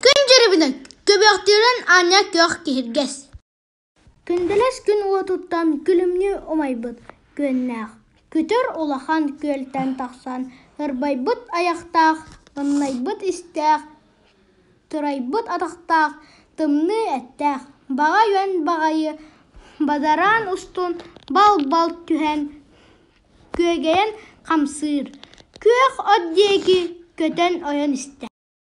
Күн дьарыгынан көбүөхтүүрүн аанньа күөх киһиргэс Күндэлэс күн уотуттан күлүмнүү умайбыт күөннээх, көтөр улахан күөлтэн тахсан ырбайбыт айахтаах, ымнайбыт истээх, турайбыт атахтаах, тымныы эттээх, баҕа үөн баҕайы бадараан устун бал-бал түһэн күөгэйэн хамсыыр, күөх от диэки көтөн ойон истэ.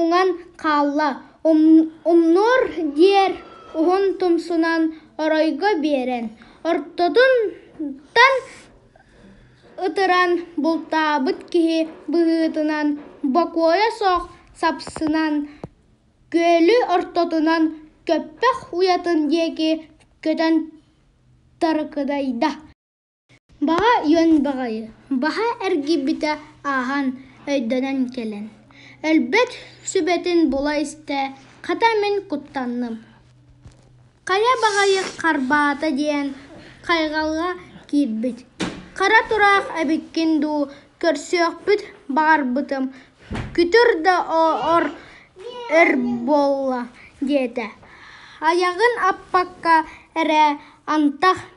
уҥан хаалла умнуор диэр уһун тумсунан оройго биэрэн ортотуттан ытыран бултаабыт киһи быһыытынан бокуойа суох сапсынан күөлү ортотунан көппөх уйатын диэки көтөн тарыкыдайда Баҕа үөн баҕайы, баһа эргийбитэ ааһан, өйдөнөн кэлэн, өлбөт сүбэтин була-истэ, хата мин куттанным. Хайа баҕайы харбаата диэн хайҕалга киирбит, хара тураах эбиккин дуу, көрсүөхпүт баҕарбытым, күтүр да ор өр буолла диэтэ. Айаҕын аппакка эрэ антах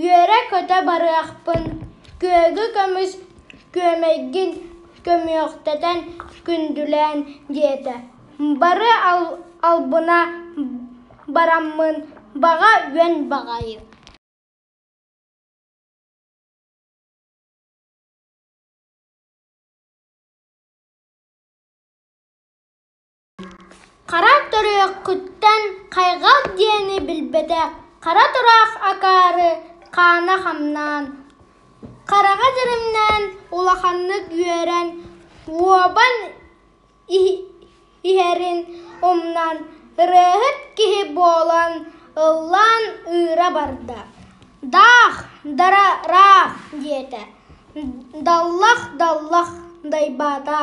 Үөрэ-көтө барыахпын, күөгү көмүс күөмэйгин көмүөхтэтэн күндүлээн, диэтэ. Бары албына бараммын, баҕа үөн баҕайы Хара төрүөххүттэн хайҕал диэни билбэтэх хара тураах акаары хаана хамнаан, хараҕа дьэримнээн улаханнык үөрэн, уобан иһэрин умнан, ырыаһыт киһи буолан ыллаан ыыра барда: «Даах, дара-раах!» диэтэ, «Даллах, даллах!» дайбаата